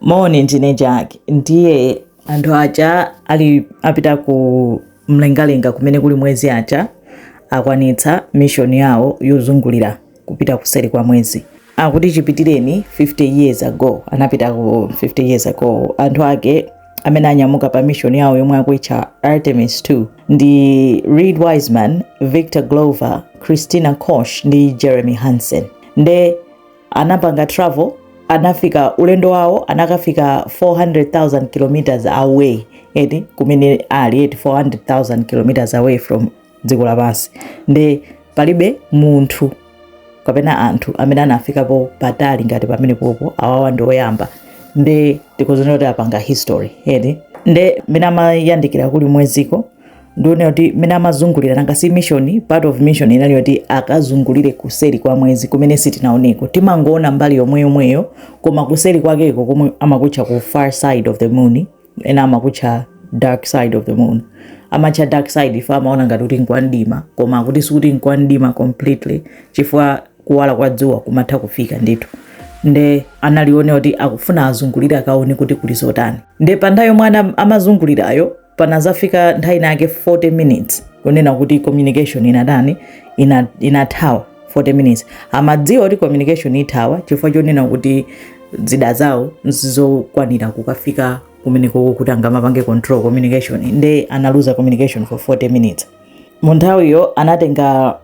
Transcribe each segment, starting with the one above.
Moni, ndine Jack. Ndiye anthu aja ali apita ku mlengalenga kumene kuli mwezi aja akwanitsa mission yawo yozungulira kupita kuseri kwa mwezi akuti chipitireni 50 years ago anapita ku 50 years ago anthu ake amene anyamuka pa mission yawo yomwe akuitcha artemis 2 ndi Reid Wiseman Victor Glover Christina Koch ndi Jeremy Hansen nde anapanga travel anafika ulendo wawo anakafika 400,000 kilometers away eti kumene ali eti 400,000 kilometers away from dziko lapansi nde palibe munthu kapena anthu amene anafikapo patali ngati pamene popo awawa ndi oyamba nde tikhozonena kuti apanga history eti nde mmene amayandikira kuli mweziko ndiyonena kuti mmene amazungulira nanga si mission part of mission inali yoti akazungulire kuseri kwa mwezi kumene sitinaoneko timangoona mbali yomwe yomweyo koma kuseri kwakeko komwe amakutcha kuti far side of the moon ena amakutcha dark side of the moon amatcha dark side ife amaona ngati kuti nkwandima koma akuti sikuti nkwandima completely chifukwa kuwala kwa dzuwa kumatha kufika ndithu nde inali yonena kuti akufuna azungulire akaone kuti kuli zotani nde pa nthawi yomwe ana- amazungulirayo panazafika nthawi inayake 40 minutes kunena kuti communication inatani ina- inathawa 40 minutes amadziwa kuti communication ithawa chifukwa chonena kuti zida zawo sizokwanira kukafika kumene koko kuti angamapange control communication nde analuza communication for 40 minutes munthawiyo anatenga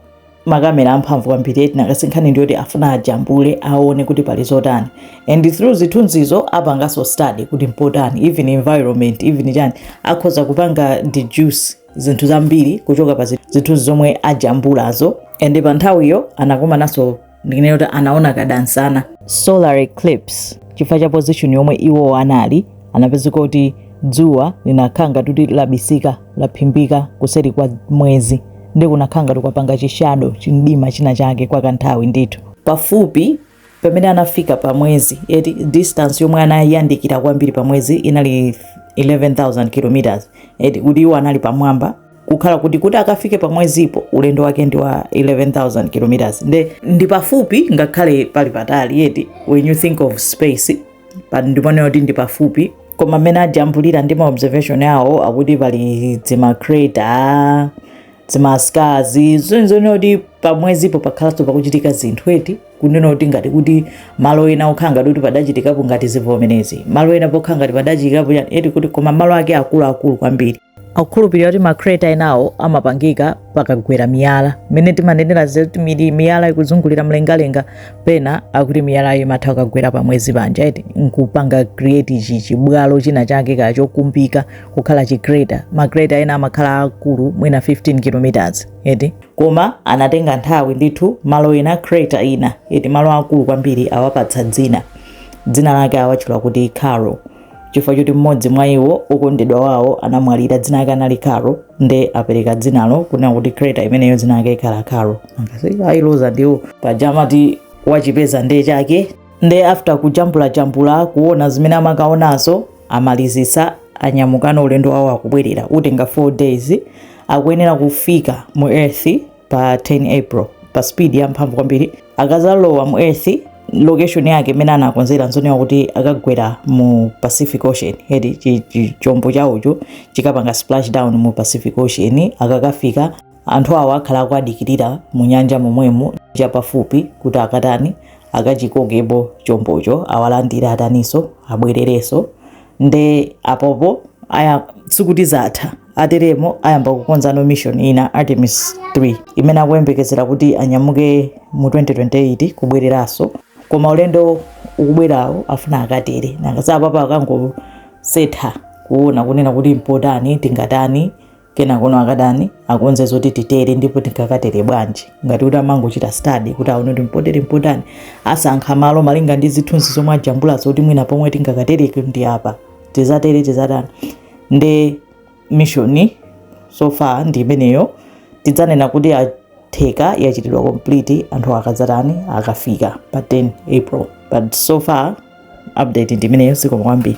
makamera amphamvu kwambiri eti nanga si nkhani ndiyoti afuna ajambule aone kuti pali zotani and through zithunzizo apanganso study kuti mpotani even environment even chani akhoza kupanga deduce zinthu zambiri kuchoka pa zithunzi zomwe ajambulazo and pa nthawiyo anakomananso ndinene kuti anaona kadansana solar eclipse chifukwa cha position yomwe iwo anali anapezeka kuti dzuwa linakhala ngati kuti labisika laphimbika kuseri kwa mwezi nde kunakhala ngati kwapanga chishadow chimdima china chake kwa kanthawi ndithu pafupi pamene anafika pa mwezi eti distance yomwe anayandikira kwambiri pa mwezi inali 11000 kilometers eti kuti iwo anali pamwamba kukhala kuti kuti akafike pa mwezipo ulendo wake ndi wa 11000 kilometers nde, ndi pafupi ngakhale pali patali eti when you think of space pa- ndiponena kuti ndi pafupi koma mmene ajambulira ndi maobservation awo akuti pali dzimacrater dzimascars zosonyeza kuti pamwezipo pakhalanso pakuchitika zinthu eti kunena kuti ngati kuti malo ena okhala ngati kuti padachitikapo ngati zivomerezi malo ena pokhala ngati padachitikapo chani eti kuti koma malo ake akuluakulu kwambiri akukhulupirira kuti ma crater enawo amapangika pakagwera miyala mmene timanenera zoti mi- miyala ikuzungulira mlengalenga pena akuti miyalayo imatha kukagwera pamwezi panja eti nkupanga create ichi chibwalo china chake kaya chokumbika kukhala chi crater ma crater ena amakhala akulu mwina 15 kilometers eti koma anatenga nthawi ndithu malo ena crater ina eti malo akulu kwambiri awapatsa dzina dzina lake awatchula kuti caro chifukwa choti mmodzi mwa iwo okondedwa wawo anamwalira dzina lake anali caro nde apereka dzinalo kunena kuti crater imeneyo dzina lake ikhala caro ailoza ndiwo paja amati wachipeza nde chake nde after kujambulajambula kuona zimene amakaonazo amalizitsa anyamukana ulendo wawo akubwerera utenga 4 days akuyenera kufika mu earth pa 10 april pa speed ya mphamvu kwambiri akazalowa mu earth location yake imene anakonzera nzonena kuti akagwera mu pacific ocean eti chi- chi- chombo chawocho chikapanga splash down mu pacific ocean akakafika anthu awo akhala akuadikirira mu nyanja momwemo chapafupi kuti akatani akachikokepo chombocho awalandire ataniso abwerereso nde apopo aya sikuti zatha Akateremo ayamba kukonzano mission ina, Artemis 3, imene akuyembekezera kuti anyamuke mu 2028 kubwereranso. Koma ulendo ukubwerawo akufuna akatere, nanga si apapa akangosefa kuona kunena kuti mpotani, tingatani, kenakono akatani, akonze zoti titere ndipo tingakatere bwanji. Ngati kuti amangochita study kuti aone kuti mpotere mpotani, asankha malo malinga ndi zithunzi zomwe ajambulazo kuti mwina pomwe tingakatereke ndi apa. tizatere tizatani nde mission so far ndi imeneyo tidzanena kuti yatheka yachitidwa complete anthu akadzatani akafika pa 10 april but so far update ndi imeneyo zikomo kwambiri